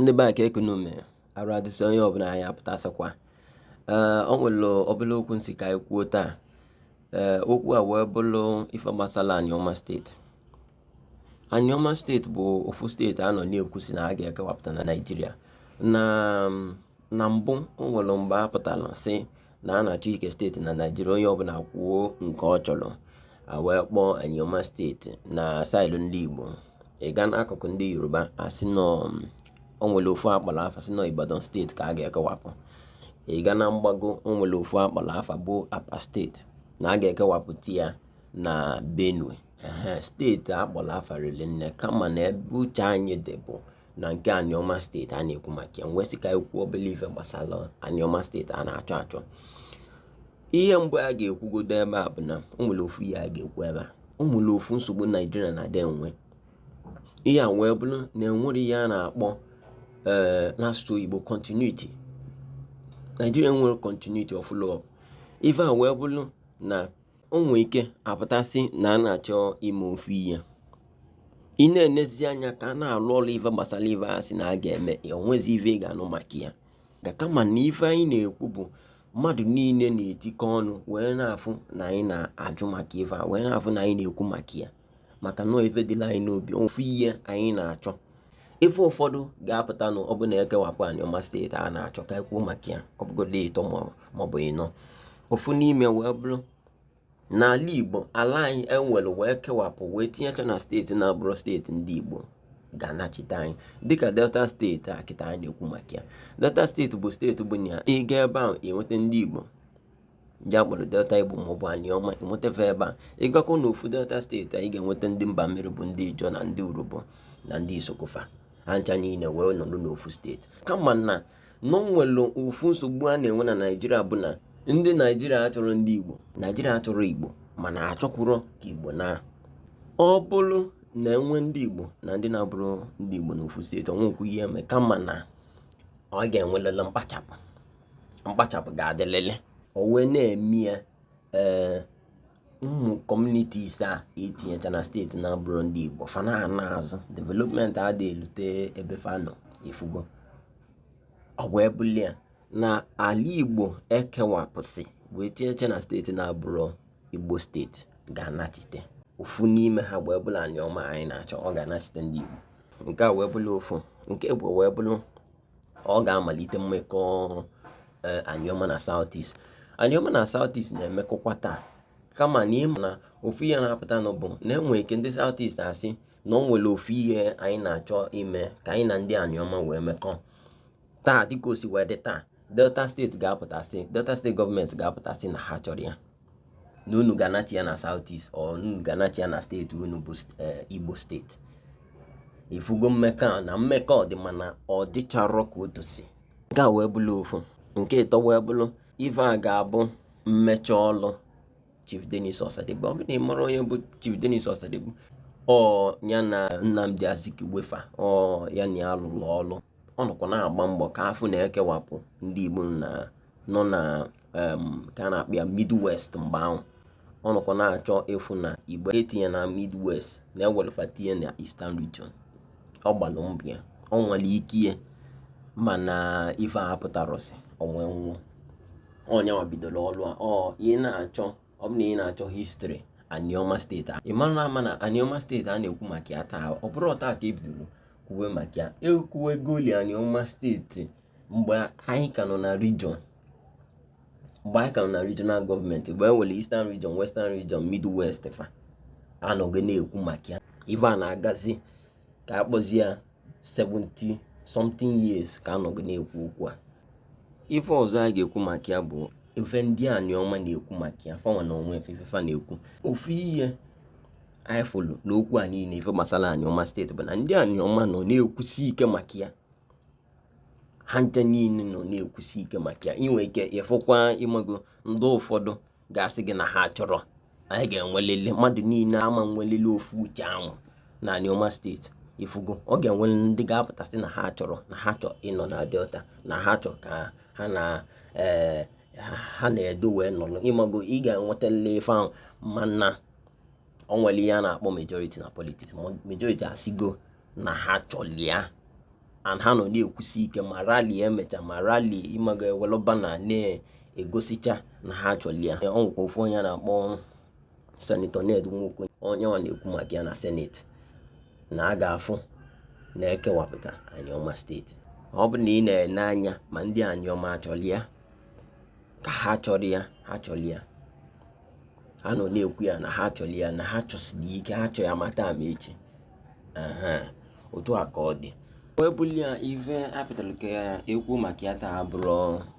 ndị be anyị kee ka unu mee arụ adịsị onye ọbụla anyị apụtasịkwa ee o nwere obere okwu m sị ka anyị kwuo taa ee okwu a wee bụrụ ife gbasara Anioma steeti Anioma steeti bụ ofu steeti a nọ na-ekwu sị na a ga-ekewapụta na Naịjirịa na na mbụ o nwere mgbe a pụtara sị na a na-achọ ike steeti na Naịjirịa onye ọbụla ekwuo nke ọ chọrọ a wee kpọọ Anioma steeti na side ndị Igbo ị gaa n'akụkụ ndị Yoruba a sị na um, o nwere ofu a kpọrọ afa sị na Ibadan steeti ka a ga-ekewapụ ị gaa na mgbago o nwere ofu a kpọrọ afa bụ Apa steeti na a ga-ekewapụta ya na Benue steeti a kpọrọ afa riri nne kama na ebe uche anyị dị bụ na nke Anioma steeti a na-ekwu maka ya m wee sị ka e kwuo obele ife gbasara Anioma steeti a na-achọ achọ ihe mbụ a ga-ekwugodo ebe a bụ na o nwere ofu ihe a ga-ekwu ebe a o nwere ofu nsogbu Naijiria na-adị enwe ihe a wee bụrụ na e nwerọ ihe a na-akpọ eh, n'asụsụ oyibo continuity Naijiria enwerọ continuity or follow up ife a wee bụrụ na o nwee ike a pụta sị na a na-achọ ime ofu ihe ị na-enezi anya ka a na-arụ ọrụ ife gbasara ife ahụ a sị na a ga-eme o nwezi ife ị ga-anụ maka ya ka kama na ife anyị na-ekwu bụ mmadụ niile na-etikọ ọnụ wee na-afụ na anyị na-ajụ maka ife a wee na-afụ na anyị na-ekwu maka ya maka na ọọ ife dịlị anyị n'obi ofu ihe anyị na-achọ ife ụfọdụ ga-apụta na ọ bụ na e kewapụ aniọma steeti a na-achọ ka e kwuo maka ya ọ bụgodị ịtọ maọbụ ịnọ ofu n'ime wee bụrụ n'ala igbo ala anyị e were wee kewapụ wee tinyecha na steeti na-abụrọ steeti ndị igbo ga-anachite anyị dịka delta steeti a kịta anyị na-ekwu maka ya delta steeti bụ steeti bụ na ị gaa ebe ahụ i nweta ndị igbo ndị a kpọrọ delta igbo maọbụ aniọma i nweta fa ebe a ị gakwuo na ofu delta steeti a ị ga-enweta ndị mba mmiri bụ ndị ijo na ndị urhobo na ndị isoko fa ha ncha niile wee nọrọ n'ofu steeti kama na o nwere ofu nsogbu a na-enwe na naijiria bụ na ndị naijiria achọrọ ndị igbo naijiria achọrọ igbo mana achọkwurọ ka igbo naa ọ bụrụ na e nwee ndị igbo na ndị na-abụrọ ndị igbo n'ofu steeti o nwekwu ihe eme kama na ọ ga-enwelili mkpachapụ mkpachapụ ga-adịlịlị o wee na-eme ya ee eh, ụmụ communities a e tinyecha na steeti na-abụrọ ndị Igbo fa na-ana azụ development adị elute ebe fa nọ ị fụgo ọ wee bụlụ ya na ala Igbo e kewapụsị wee tinyecha na steeti na-abụrọ Igbo steeti ga-anachite ofu n'ime ha wee bụlụ Anioma anyị na-achọ ọ ga-anachite ndị Igbo nke a wee bụlụ ofu nke ibụọ wee bụrụ ọ ga-amalite mmekọ ọrụ eh, Anioma na South East Anioma na South East na-emekọkwa taa kama na ịma na ofu ihe na-apụtanụ bụ na enwere ike ndị South East asị na ọ nwere ofu ihe anyị na-achọ ime ka anyị na ndị Anioma wee mekọ taa dịka o si wee dị taa Delta steeti ga-apụta sị Delta steeti gọọmenti ga-apụta sị na ha achọrọ ya na unu ga-anachi ya na South East ọ unu ga-anachi ya na steeti unu bụ eh, Igbo steeti ifugo mmekọ na mmekọ dị mana ọ dịcharọ ka o tosi nke a wee bụrụ ofu nke ịtọ wee bụrụ ife a ga-abụ mmecha ọlụ Chief Dennis Osadebe ọ bụ na ị mara onye bụ Chief Dennis Osadebe ọ ya na Nnamdi Azikiwe fa ọ ya na ya lụrụ ọlụ ọ nọkwa na-agba mbọ ka a fụ na ekewapụ ndị Igbo na nọ na ka a na-akpọ ya midwest mgbe ahụ ọ nọkwa na-achọ ịfụ na Igbo etinye na midwest na e welụ fa tinye na eastern region ọ gbalụ mbọ ya ọ nwere ike ya mana ife a apụtarọsị o wee nwụọ onye nwa bidoro ọrụ a ọ ị na-achọ ọ bụ na ị na-achọ histri anioma steeti a ịmara ama na anioma steeti a na-ekwu maka ya taa ọ bụrọ taa ka ebidoro kwuwe maka ya ekwuwegoli anioma steeti mgbe anyị ka nọ na region mgbe anyị ka nọ na regional gọọmenti mgbe e nwere eastern region western region midwest fa a nọrị na-ekwu maka ya ife a na-agazi ka akpọzi ya 70 something years ka a nọrị na-ekwu okwu a ife ọzọ a ga-ekwu maka ya bụ ife ndị Anioma na-ekwu maka ya fanwa na onwe fa fa na-ekwu ofu ihe anyị fụlụ n'okwu a niile ife gbasara Anioma steeti bụ na ndị Anioma nọ na-ekwusi ike maka ya ha ncha niile nọ na-ekwusi ike maka ya inwe ike ịfụkwa ịmago ndị ụfọdụ ga-asị gị na ha achọrọ anyị ga-enwelele mmadụ niile ama nwelele ofu uche ahụ na Anioma steeti ifugo ọ ga-enwere ndị ga-apụta sị na ha achọrọ na ha chọrọ ịnọ na Delta na ha chọrọ ka ha na eh, ha na Edo wee nọrọ ịmago ị ga-enwetali ife ahụ mana ọ nwere ihe a na-akpọ majority na politics majority asigo na ha chọrọ ya and ha nọ na-ekwusi ike ma rali emecha ma rali ịmago ewelu banner na-egosicha na ha chọrọ ya ọ nwekwa ofu onye a na-akpọ senetọ Ned Nwoko onye nwa na-ekwu maka ya na seneti na a ga-afụ na ekewapụta Anioma steeti ọ bụ na ị na-ene anya ma ndị Anioma ha chọrọ ya ka ha achọrọ ya ha chọrọ ya ha nọ na-ekwu ya na ha chọrọ ya na ha chọsiri ike ha chọrọ ya ma taa ma echi otu a ka ọ dị wee bụlịa ife a pụtara ka ya ekwu maka ya taa bụrụ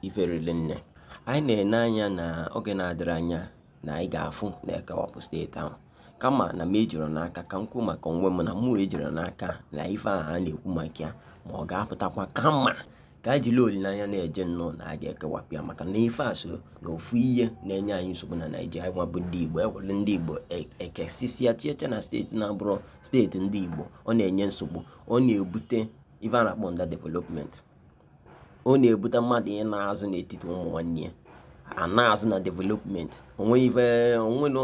ife riri nne anyị na-ene anya na oge na-adịrọ anya na anyị ga-afụ na ekewapụ steeti ahụ kama na m ejiro n'aka ka m kwuo maka onwe m na mụ ejiro n'aka na ife ahụ a na-ekwu maka ya ma ọ ga-apụtakwa kama ka anyị jiri olileanya na-eje nnọọ na a ga-ekewapụ ya maka na ife a so na ofu ihe na-enye anyị nsogbu na naijiria nwa bụ ndị igbo ewere ndị igbo e- ekesisia chiecha na steeti na-abụrọ steeti ndị igbo ọ na-enye nsogbu ọ na-ebute ife a na-akpọ underdevelopment ọ na-ebute mmadụ ịna azụ n'etiti ụmụ nwanne ya ana azụ na development o nwe ife o nwelu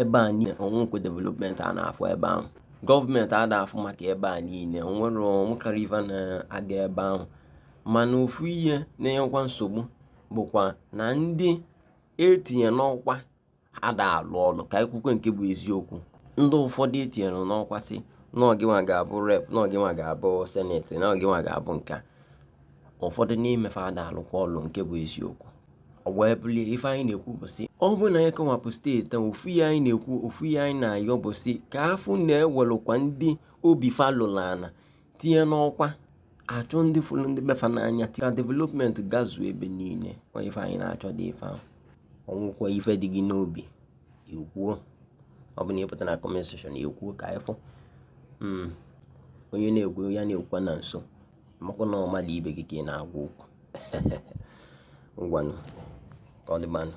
ebe a niile o nwekwe development a na-afụ ebe ahụ gọọmenti ada afụ maka ebe a niile o nwero o nwekwarọ ife na-aga ebe ahụ mana ofu ihe na-enyekwa nsogbu bụkwa na ndị etinye n'ọkwa ada alụ ọlụ ka e kwukwe nke bụ eziokwu ndị ụfọdụ etinyere n'ọkwa sị na ọ gịnwa ga-abụ rep na ọ gịnwa ga-abụ seneti na ọ gịnwa ga-abụ nke a ụfọdụ n'ime fa ada alụkwa ọlụ nke bụ eziokwu ọ wee bụlịa ife anyị na-ekwu bụ sị ọ bụrụ na anyị kewapụ steeti ahụ ofu ihe anyị na-ekwu ofu ihe anyị na-ayọ bụ sị ka a fụ na ewelukwa ndị obi fa lulu ala tinye n'ọkwa a chọọ ndị fụrụ ndị be fa n'anya ka development gazuo ebe niile kwa ife anyị na-achọ dị ife ahụ o nwekwa ife dị gị n'obi ikwuo ọ bụ na ị pụta na kọment sekshọn i kwuo ka ịfụ hmm. onye na-ekwu ya na-ekwukwa na nsọ maka na ọ mmadụ ibe gị ka ị na-agwa okwu ngwanụ ka ọ dịbanụ